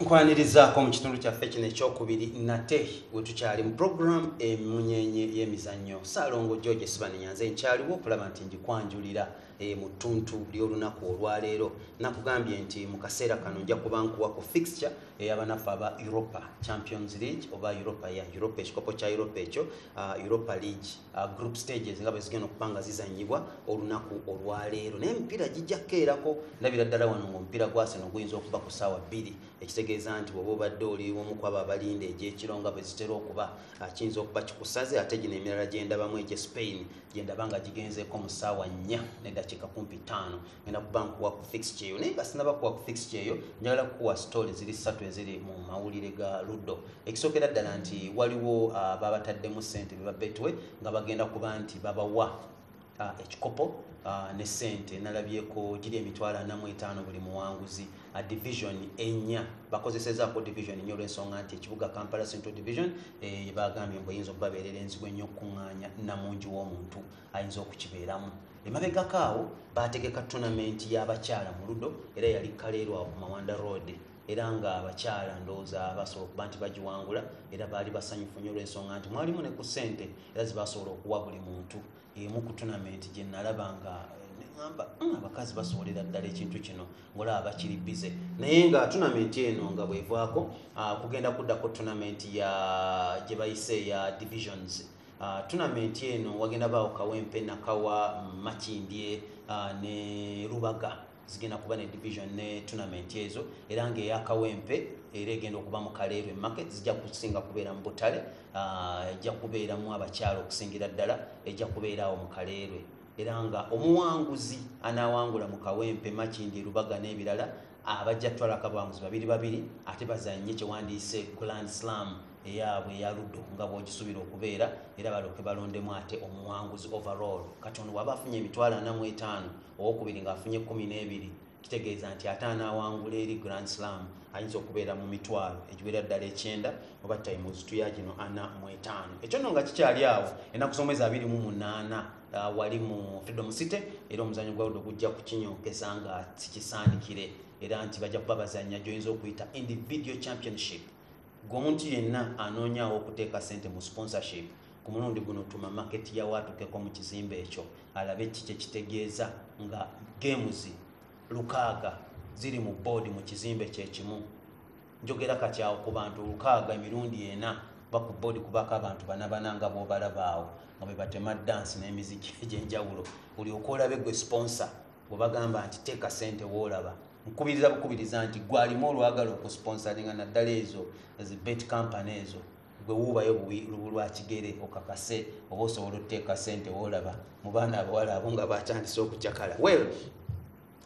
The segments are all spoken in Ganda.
nkwanirizaako mu kitundu kyaffe kino ekyokubiri nate we tukyali mu puroguramu emunyenye y'emizannyo saalongo george esibanenya nze nkyaliwo okulaba nti ngikwanjulira e, mu ttuntu ly'olunaku olwaleero nakugambye nti mu kaseera kano nja kuba nkuwa ku fixture eyabanaffe aba europa champions league oba europa ya europa ekikopo kya europa ekyo uh, europa league Uh, group stages nga bwezigenda okuba nga zizanyibwa olunaku olwaleero naye emipiira gijja kukeerako ndabira ddala wano ngaomupiira gwaseno guyinza okuba ku saawa bbiri ekitegeeza nti bwoba obadde oli omu kwabo abalinda egyekiro nga bwezitera okuba uh, kiyinza okuba kikusaze ate gino emirala gyendabamu egye spain gyendaba nga gigenzeeko mu saawa nnya nedakiika kumpi ttaano ngenda kuba nkuwa ku fix kyeyo naye nga sinaba kuwa ku fix kyeyo njagala kukuwa story ziri ssatu eziri mu mawulire ga luddo ekisookera ddala nti waliwo ah, babataddemu ssente beba betwe nga bagenda kuba nti babawa ah, ekikopo ah, ne ssente nalabyeko giri emitwalo anamu etaano buli muwanguzi division enya bakozesezaako division enya olwensonga nti ekibuga kampala central division eh, bagambye mbu eyinza okubabeerera enzibu ennyo okukuŋŋaanya namungi w'omuntu ayinza okukibeeramu emabegako awo baategeka tonamenti y'abakyala mu ludo era yali kaleerwa ku mawanda road era nga abakyala ndowooza basobola okuba nti bagiwangula era baali basanyufu nyo olwensonga nti mwalimu ne ku ssente era zibasobola okuwa buli muntu emu ku tonamenti gye nalaba nga amba mm, abakazi basobolera ddala ekintu kino ngaolaba bakiri bize naye nga tonamenti eno nga bwevaako ah, kugenda kuddako tonamenti ya gye bayise ya divisions Uh, tunamenti eno wagenda baawo kawempe nakawa makindye uh, ne rubaga zigenda kuba ne division ne tunamenti ezo era ngaeyakawempe era egenda okuba mu kaleerwe market zijja kusinga kubeera mu butale uh, ejja kubeeramu abakyalo okusingira ddala ejja kubeera awo mu kaleerwe era nga omuwanguzi anawangula mu kawempe makindye rubaga n'ebirala abajja kutwala akabamuzi babiri babiri ate bazanye kyewandiise grand slam eyaabwe eyaluddo nga bwogisuubira okubeera era baloke balondemu ate omuwanguzi overall kati ono waba afunye emitwalo ana mu etaano owokubiri ngaafunye kumi n'ebiri kitegeeza nti ate anaawangula eri grand slam ayinza okubeera mu mitwalo egiwera ddala ekyenda oba tayimuzitu ya gino ana mu etaano ekyo no nga kikyali awo enaku z'omwezi abiri mu munaana Ah, wali mu freedom city era omuzanyo gwawudo gujja kukinyokeza nga sikisaanikire era nti bajja kuba bazanya gyoyinza okuyita individual championship gwomuntu yenna anoonyawo okuteeka sente mu sponsorship ku mulundi guno tuma maketi yawaatukeko mu kizimbe ekyo alabe ki kyekitegeeza nga games lukaaga ziri mu boodi mu kizimbe kyekimu njogera katyawo ku bantu lukaaga emirundi ena ba ku boodi kubako abantu banabana nga bobalabaawo nga bebatema dansi n'emiziki egyenjawulo buli okolabe gwe sponsa bwebagamba nti teeka sente woolaba nkubiriza bukubiriza nti gwalimu olwagala okusponsaringa naddala ezo zi bet company ezo gwe wuubayo lubu lwakigere okakase oba osobola oteeka sente woolaba mu baana abawala abo nga batandise okucakala well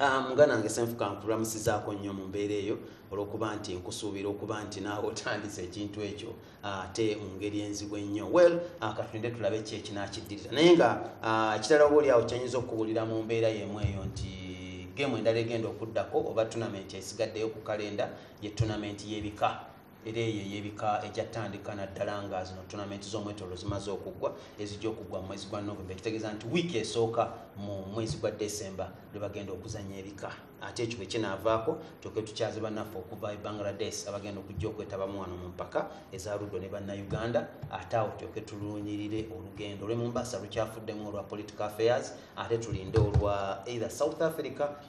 Ah, muganda nange senfuka nkulamusizaako nnyo mu mbeera eyo olwokuba nti nkusuubira okuba nti naawe otandise ekintu ekyo ah, ate mu ngeri enzibu ennyo well ah, katulinde tulabe ki ekinakiddirira naye nga ekitala oba oliawo kyanyinza okukubulira mu mbeera yemu eyo nti gemu endala egenda okuddako oba tunamenti esigaddeyo ku kalenda ye tunamenti y'ebika era eyo eyebika egyatandika naddala nga zino tonamenti z'omwetolo zimaze okuggwa ezijja okuggwa mu mwezi gwa novemba ekitegeeza nti wiiki esooka mu mwezi gwa decemba lwe bagenda okuzanya ebika ate ekyo bwe kinaavaako kyoke tukyaze bannaffe okuva e bangladesh abagenda okujja okwetabamu wano mu mpaka eza luddo ne bannayuganda ate awo kyoke tulunyirire olugendo olwe mumbasa lukyafuddemu olwa political affairs ate tulinde olwa either south africa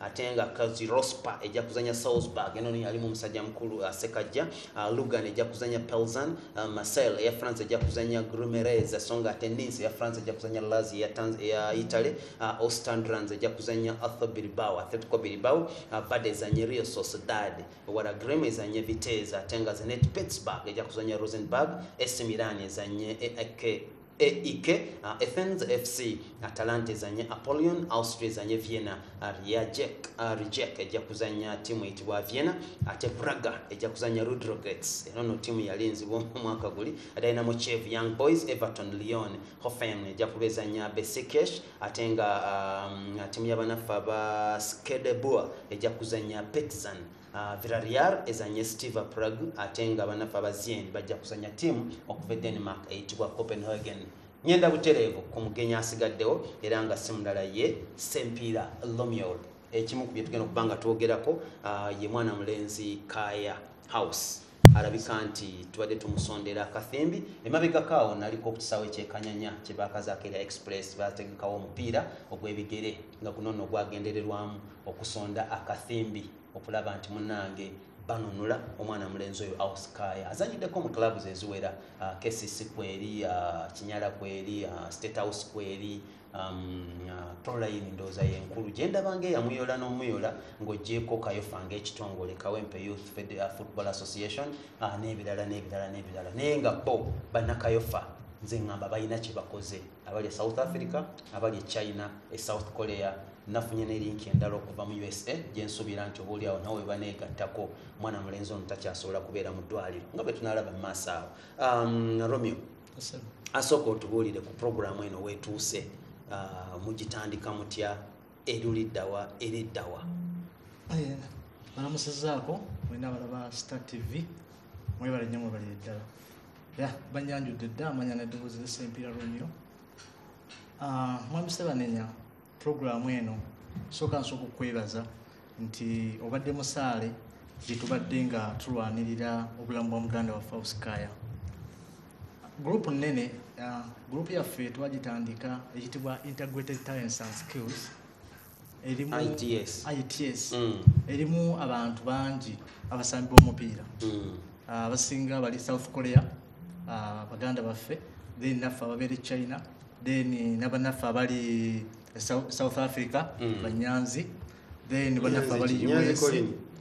ate nga kazi rospa ejja kuzanya salzburg eno yalimu omusajja mukulu uh, sekajja uh, lugan ejja kuzanya pelzan uh, marcel eya france ejja kuzanya grumerez so nga ate nins eya france ejja kuzanya lazi eya, Tanz, eya italy uh, ostandrans ejja kuzanya arthur bilbao atletico bilbao uh, vade ezanye rio sociedad wala grem ezanye vitez ate nga zenet pittsburg ejja kuzanya rosenburg esi milan ezanye eak AEK, uh, Athens FC, Atalanta ezanye Apollyon, Austria ezanye Vienna, uh, Rijek, uh, Rijek ejja kuzanya timu eyitibwa Vienna, ate Braga ejja kuzanya Ludogorets. Eno no timu yali nzibu omwaka guli. Dynamo Kiev, Young Boys, Everton, Lyon, Hoffenheim ejja kubezanya Besiktas, ate nga um, timu y'abanaffe aba Skadebua ejja kuzanya Partizan. Uh, Villarreal ezanye Steve Prague ate nga banafa bazien bajja kuzanya tiimu okuva e Denmark eyitibwa Copenhagen. Nyenda butereevu ku mugenyi asigaddewo era nga si mulala ye Sempiira Lomiol. Ekimu ku bye tugenda okuba nga twogerako uh, ye mwana mulenzi Kaya House. alabika nti tubadde tumusondera akathimbi emabegako awo naliko ku kisaawe kyekanyanya kyebakazaako era express bategekawo omupiira ogwebigere nga guno no gwagendererwamu okusonda akathimbi okulaba nti munange banunula omwana mulenzi oyo auskaya azanyiddeko mu clubs eziwera uh, kcc kweri uh, kinyala kweri uh, state house kweri Um, uh, proline ndowooza yenkulu gyendabanga eyamuyola n'omuyola ng'ogyeko kayofa ngaekitongole kawempe youth uh, football association uh, n'ebirala n'ebirala n'ebirala naye nga bo bannakayofa nze ngamba balina kyebakoze abali e south africa abali e china e south korea nafunye nelinki endala okuva mu usa gyensuubira nti obaoli awo nawe webaneegattako mwana mulenzi ono takyasobola kubeera mu ddwaliro nga bwetunalaba mu maaso awo um, romeo asooka otubuulire ku puroguramu eno wetuuse ah, mugitandika mutya eruliddawa eriddawa balamusizaako mwena balaba star tv mwebale nnyo mwebalire ddala ya banyanjudde dda amanya neddoboozi lesempiira romeo ah, mwami sebanenya puroguramu eno sooka nsooka okukwebaza nti obadde musaale gyetubadde nga tulwanirira obulamu bwa muganda waffe ausikaya gurupu nnene uh, gurupu yaffe twagitandika ekitibwa integrated talents and skills erimu its mm. erimu abantu bangi abasambi b'omupiira mm. uh, abasinga bali south korea uh, baganda baffe then naffe ababeera e china then nabanaffe abali south africa mm. banyanzi then banafe abali us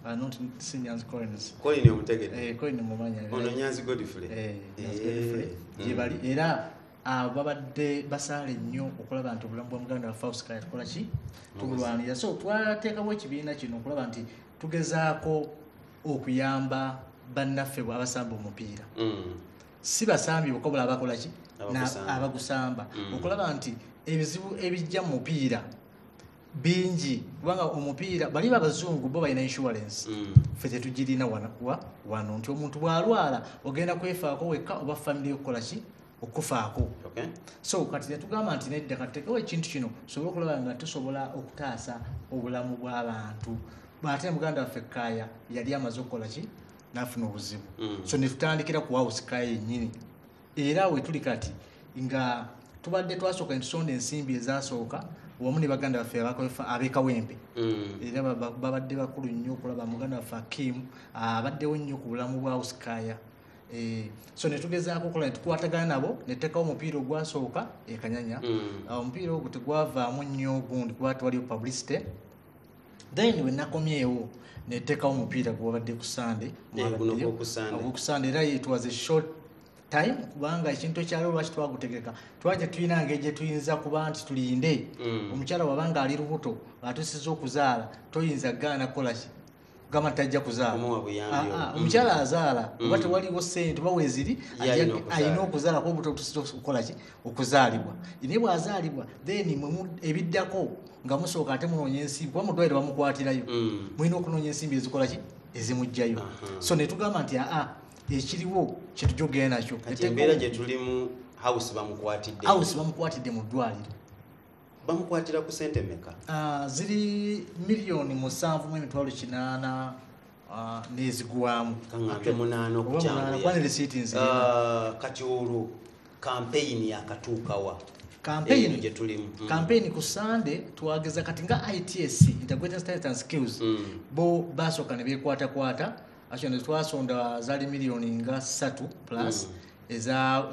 Uh, not si nyanzi coins coin omutegedde eh coin mumanya ono nyanzi godfrey eh nyanzi eh. godfrey mm. yebali era ah, babadde basaale nnyo okulaba nti obulamu bwa muganda wafe ausikala tukola ki tubulwanira so twateekawo ekibiina kino okulaba nti tugezaako okuyamba bannaffe bwabasamba omupiira mm. si basambi bokka bula abakola ki abagusamba mm. okulaba nti ebizibu ebijja mu mupiira bingi kubanga omupiira bali babazungu bo balina insurance mm. fe tetugirina wano nti omuntu bwalwala ogenda kwefaako wekka oba famiry okukola ki okufaako so kati netugamba nti nedda katutekewo ekintu kino tusobole okulaba nga tusobola okutaasa obulamu bw'abantu ate muganda waffe kaaya yali amaze okukola ki nafuna obuzibu mm. so netutandikira ku house kaya yenyini era wetuli kati nga tubadde twasooka entusonda ensimbi ezasooka wamu ne baganda baffe abekawempe mm. era babadde bakulu nnyo okulaba muganda waffe akim abaddewo nnyo ku bulamu bwa house kaya eh, so netugezaako okola netukwatagana nabo netutekawo omupiira ogwasooka ekanyanya mm. omupiira ogwo tegwavaamu nnyo ogundi kuba twaliwo publicity then we nakomyewo netekawo omupiira gwobadde ku sande okusande era yetwaze short time kubanga ekintu ekyaliwo lwaki twagutegeka twaje tulina ngeri gye tuyinza kuba nti tulinde mm. omukyala wabanga ali lubuto atusiza okuzaala toyinza gaana kolaki gamba tajja kuzaala ah, ah, omukyala mm. azaala mm. oba tewaliwo sente oba weziri alina okuzaala kuba obutotusita okukolaki okuzaalibwa naye bwazaalibwa then ebiddako nga musooka ate munoonya ensimbi kuba mudwaire bamukwatirayo mm. mulina okunoonya ensimbi ezikolaki ezimugjayo so netugamba nti aa ekiriwo kyetujja okugenda nakyo embeera gyetulimu house bamukwatidde mu ddwaliro bamukwatira ku sente meka ah, ziri miliyoni musanvu mu emitwalo kinaana ah, nezigwamu kaŋambe munaana okukyamuyakati ah, olwo kampeyini yakatuukawa kampeyini gyetulimu mm. kampeyini ku sande twageza kati nga its integrated standards and skills mm. bo basooka ne bekwatakwata actually twasonda zali millioni nga satu plus mm.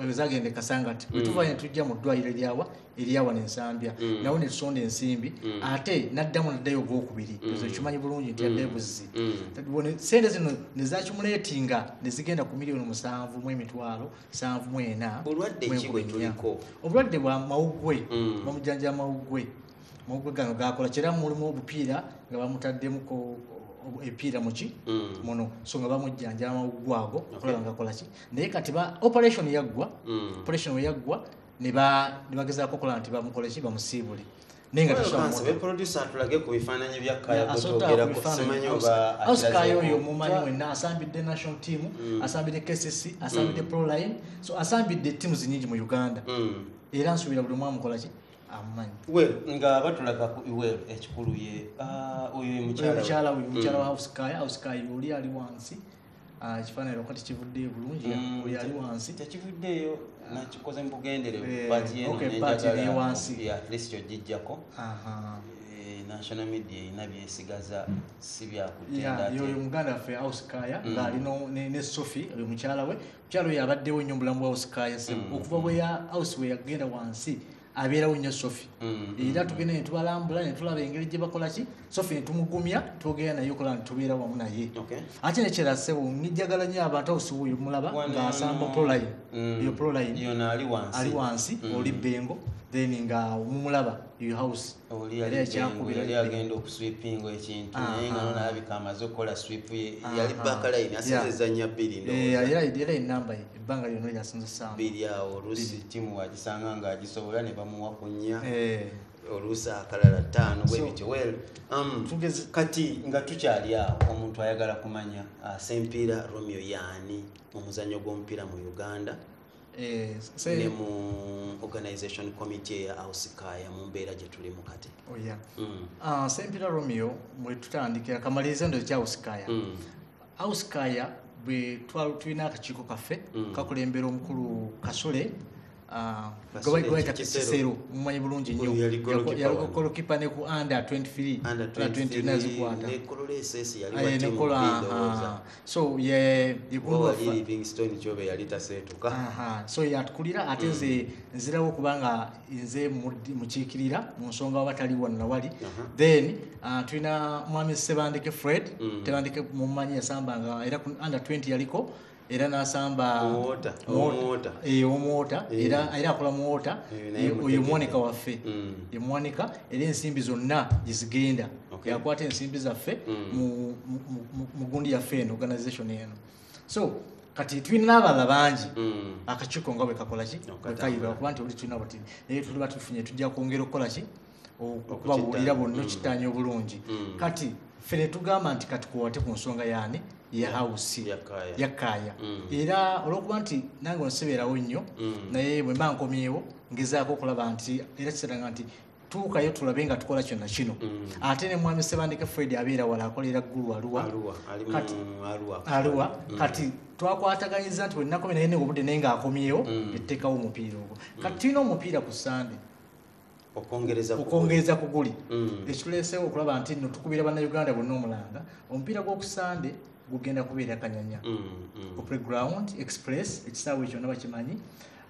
ezagenda ekasangati mm. wetuva netujja mu ddwaliro eryawa eryawa nensambya mm. nawo netusonda ensimbi mm. ate naddamu naddayo ogwokubiri ezo kimanyi bulungi nti yadde buzzi sente zino nezakimuleetinga nezigenda ku miliyoni musanvu mu emitwalo sanvu mwena obulwadde bwa mawugwe bamujanjaa mawugwe mawugwe gano gakola kyera mulimu obupiira nga bamutaddemu epiira muki mm. muno so nga bamujjanja amawugwe ago okulaba nga kolaki naye kati ba operation yaggwa mm. operation weyaggwa nebagezaako okola nti bamukoleki bamusiibule osikayo oyo omumanyi wenna asambidde national team mm. asambidde kcc asambidde proline so asambidde tiamu zinyingi mu uganda era nsuubira buli omwamukolaki we nga batulaga ku iwel ekikulu ye ah, oyo mukyala oyo mukyala mm. wa hauskaya hauskaya oli ali wansi ah, ekifaananyi lwaka tekivuddeyo bulungi mm, oli ali wansi tekivuddeeyo nakikoze mu bugenderevu eh, pati yenoneyo wansi atleast ojijjako eh, national media erina byesigaza si byakutendayoyo muganda waffe hauskaya mm. ng'ali ne sophie oyo mukyala we mukyalo oyo abaddewo nnyo mubulamu bwa house kaya sebo mm. okuva bweya house bwe yagenda wansi abeerawo nnyo sofi mm. era tugenda netubalambula netulaba engeri gye bakola ki sofi netumugumya twogera naye okola netubeera wamu naye ate nekyera sebo nijagala nnyo abantu house wuyo mulaba ngaasamba proline mm. eyo proline ali wansi oli bengo then nga mumulaba eyo house oli yali ekyakubira yali agenda okuswipinga ekintu naye nga nonalabika amaze okukola swip ye yali bakalayini asinza ezanya bbiri era enamba ye ebbanga lyona lyasinzisaamu biri awo olusi timu wagisanga nga agisobola ne bamuwa ku nnya eh. oluusi akalala ttaano bwebityo wel um, kati nga tukyali awo omuntu ayagala kumanya uh, sempiira romeo yaani mu muzannyo gw'omupiira mu uganda eh, ne mu organization committee eya ausikaya mu mbeera gye tulimu kati oh, mm. ah, sempira romeo mwe tutandikira kamaliriza ndo ekya ausikaya mm. ausikaya bwe tulina akakiiko kaffe mm. kakulembera omukulu kasule Ah, gwebayita kisero mumanyi bulungi nnyo yalikokolokipa ne ku under 23 nezikwata nekola so ye livingston kyobe yali taseetuka so yatukulira ate nze mm. nzirawo kubanga nze mukiikirira mu nsonga waba tali wonna wali then uh, tulina mwami sebandeke fred mm. tebandeke mumanyi yasambanga era under 20 yaliko era nasamba omwota eh, eh. era akola muwota eh, oyo mwonika waffe emwonika era ensimbi zonna gyezigenda okay. yakwata ensimbi zaffe mm. mu gundi yaffe eno organization eno so kati tulina abalala bangi mm. akakiiko nga bwekakolaki bwekayira okuba nti oli tulina bati naye tuliba tufunye tujja kwongera okukolaki okubabuulira bonna mm. okitaanya obulungi mm. kati ffe netugamba nti kati kuwate ku nsonga yaani ya hausi yakkaaya mm. era olwokuba nti nange onsibeerawo nnyo mm. naye bwe mba nkomyewo ngezaako okulaba nti era kiseranga nti tuukayo tulabe nga tukola kyona kino mm. ate ne mwami sebandeke fred abeera wala akolera ggulu aluwa aluwa mm. kati twakwataganyiza nti wenakomye naye obudde naye nga akomyewo mm. etteekawo omupiira ogwo kati tulina omupiira ku sande okwongereza ku guli ekituleesewo okulaba nti no tukubira bannauganda bonna omulanga omupiira gw'okusande gugenda kubeera kanyanya opre ground express ekisaawa ekyona bakimanyi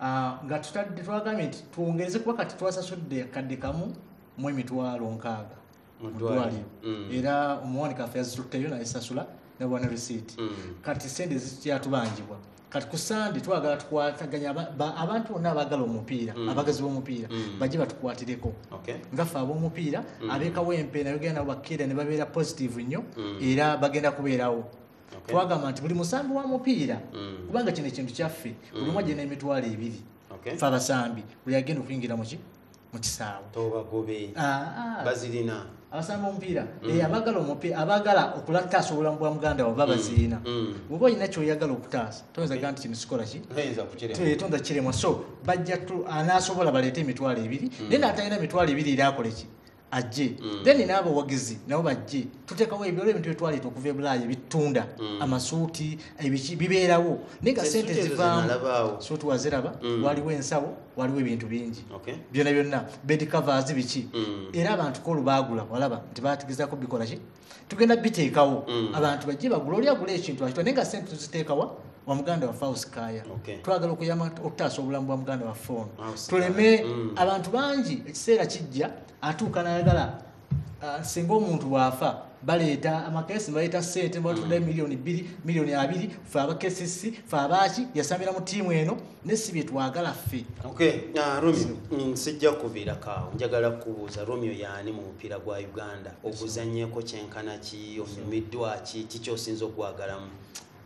Ah, nga tutadde twagambye nti twongeze kuba kati twasasudde akadde kamu mu emitwalo nkaaga mudwaliro mm. era omuwani kafe yazitutteyo nayesasula nabwana risiiti mm. kati sente zikyatubanjibwa kati ku sande twagala tukwataganya abantu bonna abagala omupiira mm. abagazi b'omupiira bajje batukwatireko ngaffe ab'omupiira abekawo empeera yogera nabo bakkeera ne babeera positive nnyo era bagenda kubeerawo twagamba nti buli musambi wa mupiira mm. kubanga kino ekintu kyaffe mm. buli omu ajja n'emitwalo ebiri fe abasambi buli agenda okuyingira muki mu kisaawe tobagobe ah, ah. bazirina abasambi omupiira mm. eh, abagala omupiira abagala okulattaasa obulamu bwa muganda waba bazirina bwoba olina kyoyagala okutaasa toyinza ga nti kino sikola ki tonza kiremwa so bajja anaasobola baleete emitwalo ebiri naye naatalina emitwalo ebiri era akole ki ajje mm. then n'abawagizi nabo bajje tuteekawo ebyo olwebintu byetwaleeta okuva ebulaaya ebitunda mm. amasuuti ebiki bibeerawo naye nga sente zivaamu suuti waziraba mm. waliwo ensawo waliwo ebintu bingi byona byonna bed covers biki era abantu kolu baagula walaba nti batigizako bikolaki tugenda biteekawo mm. abantu bajje bagula oli agula ekintu akitwa naye nga sente tuziteekawa wa muganda waffe ausikaya twagala okuyama okutaasa obulamu bwa muganda waffe ono tuleme mm. abantu bangi ekiseera kijja atuuka nayagala uh, singa omuntu bwafa baleeta amakesi baleeta sente batunda mm. miliyoni bbiri miliyoni abiri fe abakesisi fe abaaki yasambira mu tiimu eno nesi byetwagala ffe ah, romeo mm, sijja kuviirakaawo njagala kubuuza romeo yaani mu mupiira gwa uganda oguzanyeko kyenkana ki onyumiddwa ki kikyosinza okugwagalamu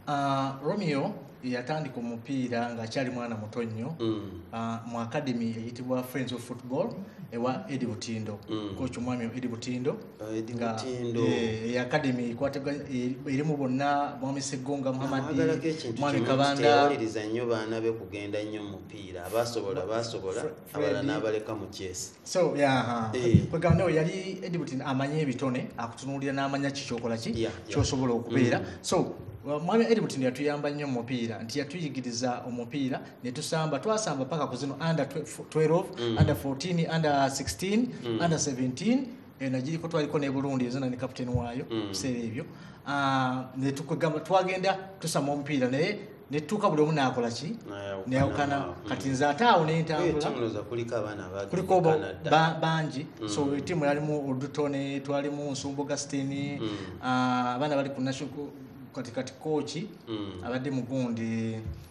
ah, romeo yatandika omupiira ngaakyali mwana muto nnyo mm. ah, mu akademi eyitibwa friends of football ewa edi butindo mm. koki omwami edi butindo academy erimu bonna mwami seggonga muhammadmwami kabandaawaliriza nnyo baana be kugenda nnyo mupiira abasobola basobola abala n'abaleka mu kyesi eh. kwegamba nawe yali edibut amanyi ebitone akutunuulira n'amanya ki kyokola ki kyosobola okubeera mm. so mwami edibut yatuyamba nnyo mu mupiira nti yatuyigiriza omupiira netusamba twasamba paka ku zino under 12 mm. under 14 under 16 mm. under 17 eno giriko twaliko ne burundi ezina ne captain waayo mm. biseera ebyo ah, netukugamba twagenda tusama omupiira naye netutuuka buli omu naakola ki neyawukana mm. kati nze ate awo nentambulakuliko bangi mm. so tiimu yalimu odutone twalimu nsumba augustini mm. ah, abaana bali ku kati kati kooki abadde mugundi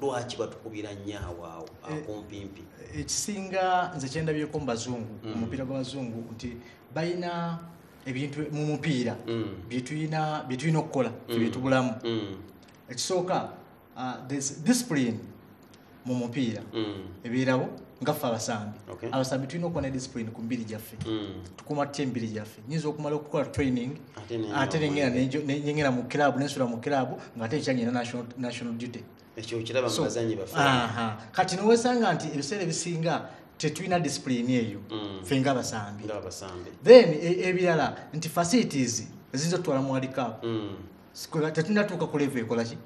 lwaki batukubira nnyo awaawo eh, akumpimpi ekisinga nze kyendabyeko mu bazungu mm. omupiira gw'abazungu nti balina ebintu mu mupiira mm. byetulina byetulina okukola mm. byetubulamu ekisooka uh, discipline mu mupiira ebeerawo ngaffe abasambi abasambi tulina okuba ne discipline ku mibiri gyaffe tukumatte emibiri gyaffe nyinza okumala okukola training ate nenyengera mu club nensula mu club ngaate ekyanyina national duty kati newesanga nti ebiseera ebisinga tetulina discipline eyo mm. fe nga abasambi then e, ebirala nti facilities eziyinza otutwala mu walikaapu mm. tetulina tuuka kulevu ekolaki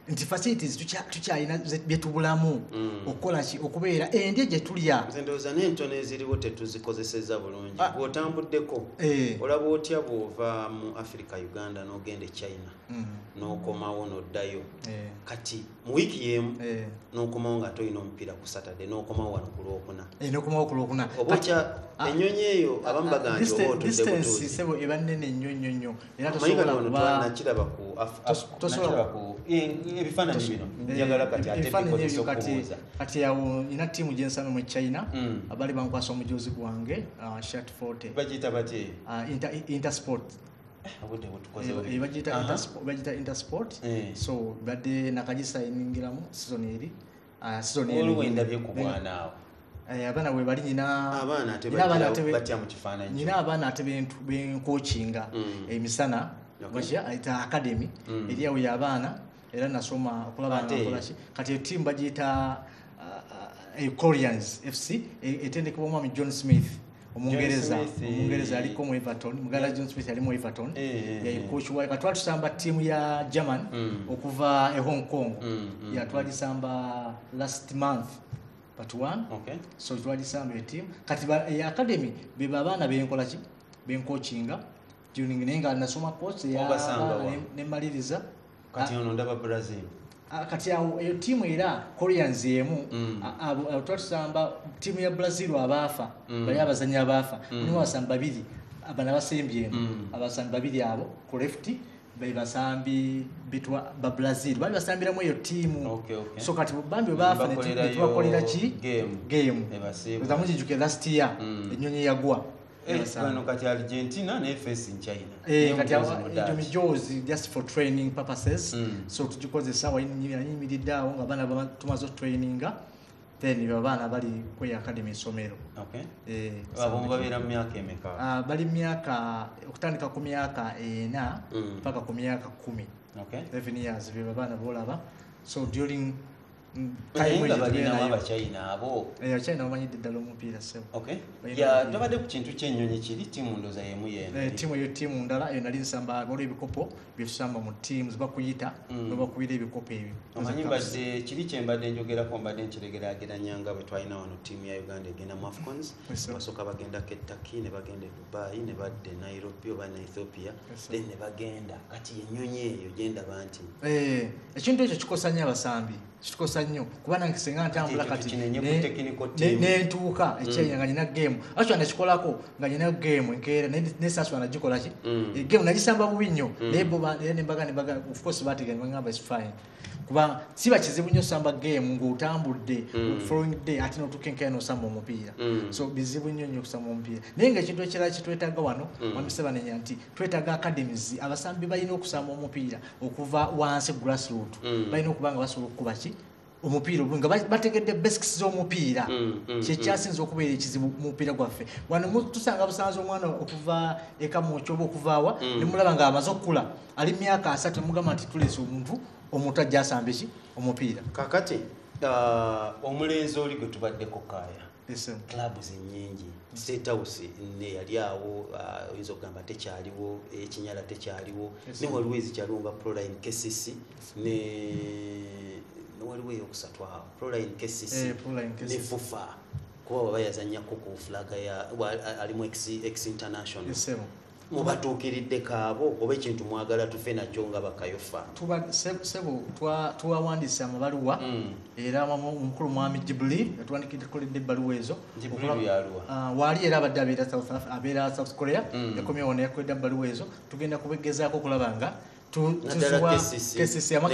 nti facilities tukyalina byetubulamu mm. okukolaki okubeera endya gyetulya ndoza nentono eziriwo tetuzikozeseza bulungi ah. bwotambuddeko eh. olaba otya bwova mu africa uganda nogenda e china mm. nokomawo noddayo eh. kati mu wiiki yemu eh. nokomawo nga tolina omupiira ku saturday nokomawo wano ku lwokuna nokomawo ku lwokuna oba otya ah. enyonyi eyo abamu ah, baganja oba otudde butuuzi eba nene nnyo nnyo nnyo era tosobola kuba nakiraba ku tosobola ku ebifaananyi bino njagala kati ate bikozesa okubuuza kati awo ina tiimu gyensana mu china mm. abali bankwasa omujuzi gwange uh, shat 40 bagiyita batye uh, intersport bagiyita intersport eh, eh, eh. so badde nakagisa eningiramu sizoni eri Ah, Sidoni waliwo Elwin. endabye ku mwana awo Eh, abaana bwe bali nyina abaana ate nyina abaana batya- ate be- batya mu kifaananyi nyina kino. abaana ate bentu- benkokinga Mm. emisana Okay. bakya ayita academy Mm. eri awo y'abaana era nasoma okulaba nga Ate- nkolaki kati etiimu bagiyita uh, uh, Corians fc e- etendekebwa omwami john smith omungereza omungereza yaliko mu everton muganda john smith yali mu everton yaikokiwa nga twali tusamba ttiimu ya german mm. okuva e hong kong mm, mm, yatwali tusamba last month but one so twali tusamba etiimu kati academy beba abaana benkolaki benkokinga tuning naye nga nasoma course ya Obasanga abaana wa? ne- ne mmaliriza kati ono ndaba brazil Ah, kati awo eyo tiimu era koreans emu Mm. a- abo- abo tuba tusamba tiimu ya brazil abaafa Mm. bali abazanyi abaafa Mm. mulimu abasambi babiri abana basembye eno Mm. abasambi babiri abo ku left be basambi bitwa ba brazil bali basambiramu eyo tiimu Okay, okay. so kati bambi baafa Bakolerayo netubakolera ki game. game Ebasiiba. zamujijukira last year Mm. enyonyi yagwa Eh, bano kati argentina naye face in china eh, egyo mijoozi just for training purposes mm. so tugikozesa wayimiridde awo nga abaana tumaze otraininga then abaana bali kwe academy esomero eh, ah, bali myaka okutandika ku myaka ena mm. paka ku myaka kumi even years bebabaana bolaba so during tobadde ku kintu kyenyonyi kiri tiimu ndoza yemu yentiimu eh, eyo tiimu ndala eyo nali nsamba waliwo ebikopo byetusamba mu tiimu zibakuyita mm. nobakubira ebikopo ebyo omanyi mbadde kiri kyembadde njogerako mbadde nkiregerageranyanga bwe twalina wano tiimu ya uganda egenda mu afcons basooka bagendako ettaki ne bagenda bayi ne badda e nairobi oba ne ethiopia then ne bagenda kati enyonyi eyo gyendaba nti eh, ekintu ekyo kikosa nnyo abasambi kikosa nnyo kuba nange senga ntambula kati nentuuka mm. ekyenya nga nina gemu aswa nakikolako nga nina gemu enkeera nesaswa nagikolaki mm. eh, gemu nagisamba bubi nnyo mm. naye nembaga nembaga ofcourse bategeera nebagamba is fine kuba siba kizibu nnyo samba game ng'otambudde mm. following day ate notukenkayo nosamba omupiira mm. so bizibu nnyo nnyo okusamba omupiira naye nga ekintu ekirala kyetwetaaga wano mm. wamisebanenya nti twetaaga academies abasambi balina okusamba omupiira okuva wansi grassroot balina okuba nga basobola okukuba ki omupiira nga bategedde basics z'omupiira kyekyasinza okubeera ekizibu mupiira gwaffe wano tusanga busanza omwana okuva ekamuokyoba okuvaawa nemulaba nga amaze okukula ali myaka asatu mugamba nti tulese omuntu omuntu ajja asamba eki omupiira kakati uh, omulenzi oli gwe tubaddeko kaaya klabu zenyingi setawusi ne yali awo uh, oyinza okugamba tekyaliwo ekinyala tekyaliwo ne waliwo ezikyaliwo nga proline kcc ne waliwo eyokusatu awo proline kcc eh, ne fufa kuba waba yazanyako ku fulaga ya alimu ex international mubatuukiridde kaabo oba ekintu mwagala tufe nakyo nga bakayofa sebo tuwawandiise amabaluwa mm. era omukulu mwami jibuli yatuwandikidde ebbaluwa ezo ah, waali era abadde abeera south korea mm. ekomyewo neyakwedda mu baluwa ezo tugenda kubegezaako okulaba nga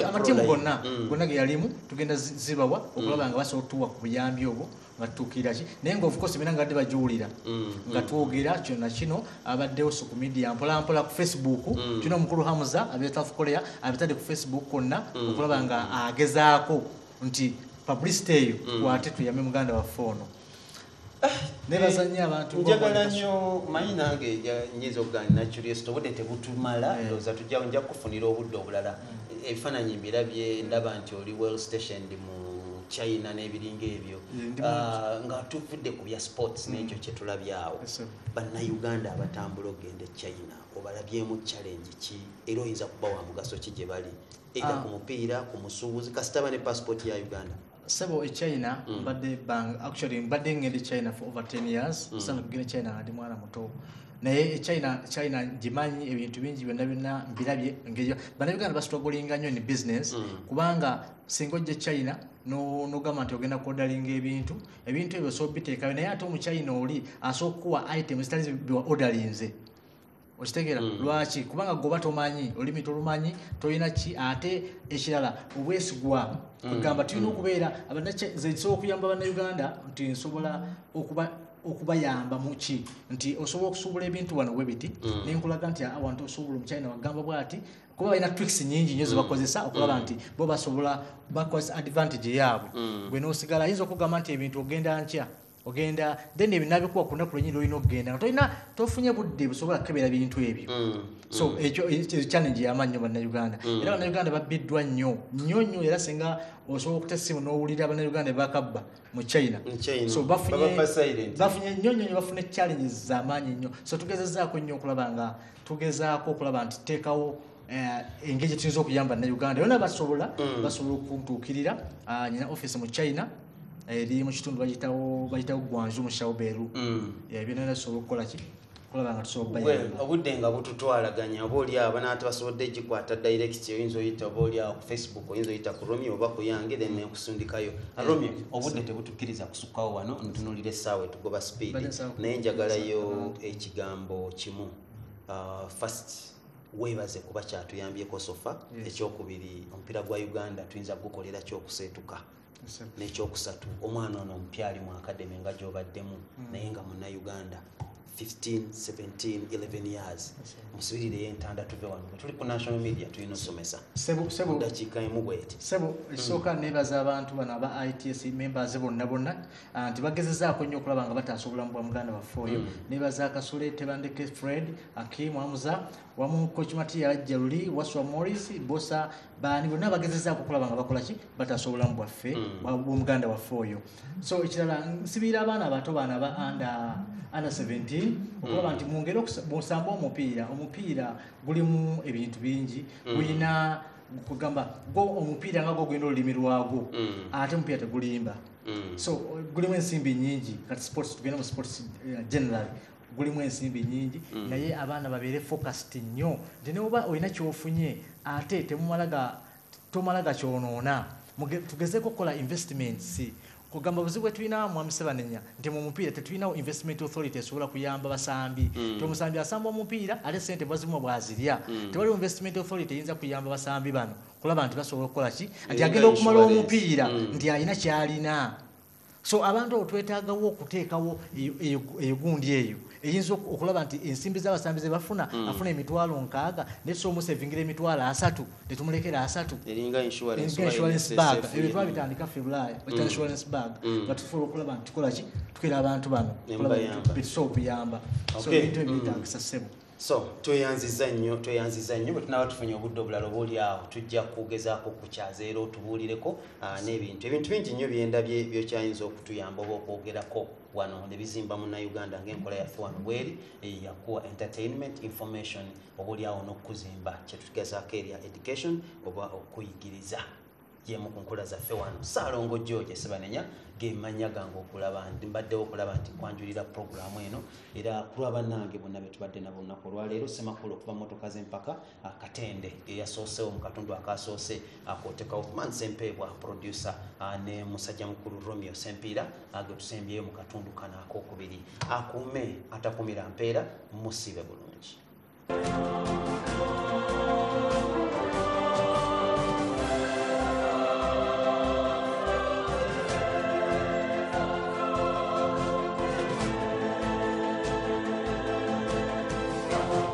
amatimu gonna mm. gonna geyalimu tugenda zibawa mm. okulaba nga basobola otuwa ku buyambi obwo nga tutuukiraki naye nga ofcourse bina nga badde bagiwulira mm. nga twogera kyona kino abaddewo so ku media mpolampola ku facebook kino omukulu hamuza abetafu korea abitadde ku facebook konna okulaba nga agezaako nti publicity eyo kwate tuyame muganda waffe ono nebaza nnyo abantu njagala nnyo manyi nange nyinza okugana nacuryst obudde tebutumala eh. ndoza tujja nja kukufunira obudde obulala eh, ebifaananyi mbirabye ndaba nti oli well stationed mu china n'ebiringa ebyo ah, nga tuvudde ku bya sports mm. n'ekyo kyetulabyawo bannayuganda abatambula okugenda e china obalabyemu challenge ki era oyinza kuba wa mugaso ki gye bali era ah. ku mupiira ku musuubuzi kasitaba ne passport ya uganda sebo e china mm. mbadde bang actually mbadde ngende china for over 10 years mm. sana kugenda china ngadi mwana muto naye e china china ngimanyi ebintu bingi byonna byonna mbirabye ngeyo banabiganda basitogolinga nnyo ni business mm. kubanga singa ojja e china nogamba nti ogenda kuodalinga ebintu ebintu ebyo sobiteekayo naye ate omuchina oli asooka kuwa item zitali odalinze okitegeera mm. lwaki kubanga goba tomanyi olulimi tolumanyi tolina ki ate ekirala obwesigwa mm. kwegamba tulina mm. okubeera abanzekisobola okuyamba bannauganda nti nsobola okuba okubayamba muki nti osobola okusuubula ebintu wano webiti mm. nenkulaga nti awantu osuubula omukyalina wagamba bwati kuba balina tricks nyingi nyo zebakozesa mm. okulaba mm. nti bo basobola bakozesa advantage yaabwe gwe nosigala ayinza okugamba nti ebintu ogenda nkya ogenda then ebyo nabikuwa ku lunaku lwenyini lwolina okugenda nga tolina tofunye budde busobola kukebera bintu ebyo mm, so mm. ekyo challenge yamaanyi nyo bannauganda mm. era bannauganda babbiddwa nnyo nnyo nnyo era singa osobola okuta essimu n'owulira bannauganda bakabba mu china so bafunye nnyo nnyo nyo bafuna challenges zamaanyi nnyo so tugezezaako nnyo okulaba nga tugezaako okulaba nti teekawo Eh, engeri gyetuyinza okuyamba na uganda yona basobola mm. basobola okuntuukirira ah, nyina office mu china eh, eri mu kitundu bayitawo gwanju mu shauberu mm. eh, byona nasobola okukola ki obudde nga bututwalaganya oba oli abo naate basobodde gikwata direct oyinza oyita oba oli awo ku facebook oyinza oyita ku romeo oba ku yange then nekusundikayo ah, romeo obudde tebutukiriza kusukkawo wano ntunulira essaawa etugoba speed naye njagalayo ekigambo kimu ah, fast webaze kuba kyatuyambyeko sofa ekyokubiri omupiira gwa uganda tuyinza gukolera kyokuseetuka nekyokusatu omwana ono omupya ali mu akademi nga gyobaddemu hmm. naye nga munauganda 151711 years musibirireyo entanda tuve wano tuli ku national media tulina osomesa dakiika emu bweti sebo ekisooka hmm. nebaza abantu bano aba its members bonna bonna Ah, nti bagezezaako nnyo okulaba nga bataasa obulamu bwa muganda waffe oyo mm. nebaza kasule tebandeke fred akim amuza wamu kochimati yalajja luli waswa morris bosa baani bonna bagezezaako okulaba nga bakolaki bataasa obulamu bwaffe mm. bwomuganda waffe oyo so ekirala nsibiira abaana abato baana ba anda under 17 okulaba mm. nti mungeri okusamba omupiira omupiira gulimu ebintu bingi gulina mm. kugamba gwo omupiira nga gwo gulina olulimi lwagwo mm. ate omupiira tegulimba mm. so gulimu ensimbi nyingi kati sports tugenda mu sports eh, generally gulimu ensimbi nyingi mm. naye abaana babeere focused nnyo nti neoba olina kyofunye ate temumala tomala gakyonoona tugezeko okukola investments kugamba obuzibu bwetulina mwami sebanenya nti mu mupiira tetulinawo investment authority esobola kuyamba basambi mm. ti omusambi asamba omupiira ate sente bwazimu bwazirya mm. tewaliwo investment authority eyinza kuyamba basambi bano kulaba nti basobola okukola ki nti agenda okumala omupiira mm. nti alina kyalina so abantu abo twetagawo okuteekawo eyo gundi eyo eyinza okulaba nti ensimbi z'abasambi ze bafuna mm. afuna emitwalo nkaaga naye tusobola omusevingira emitwalo asatu ne tumulekera asatu insurance bag ebyo twabitandika ffe bulaaya mm. insurance bag mm. nga tusobola okulaba nti tukola ki tukera abantu bano betusobola okuyamba so ebintu ebyetagisa ssebo so tweyanziza nnyo tweyanziza nnyo bwetunaba tufunye obudde obulala oba oli awo tujja kugezaako okukyaza era otubuulireko ah, n'ebintu ebintu bingi nnyo byendabye byokyayinza okutuyamba oba okwogerako wano ne bizimba munnayuganda ng'enkola yaffe wano bweri eyo yakuwa entertainment information obaolyawo n'okukuzimba kyetugezaako erya education oba okuyigiriza yemu ku nkola zaffe wano saalongo george sibanenya gemanya gange okulaba nti mbaddewo okulaba nti kwanjulira puroguramu eno era kulwa bannange bonna betubadde nabo lunaku olwaleero semakulu okuva motoka z'empaka akatende eyasoosewo mu katundu akaasoose akotekawo man sempeebwa producer ah, ne musajja mukulu romeo sempiira ah, getusembyeyo mu katundu kano akokubiri akuume atakumira mpeera musibe bulungi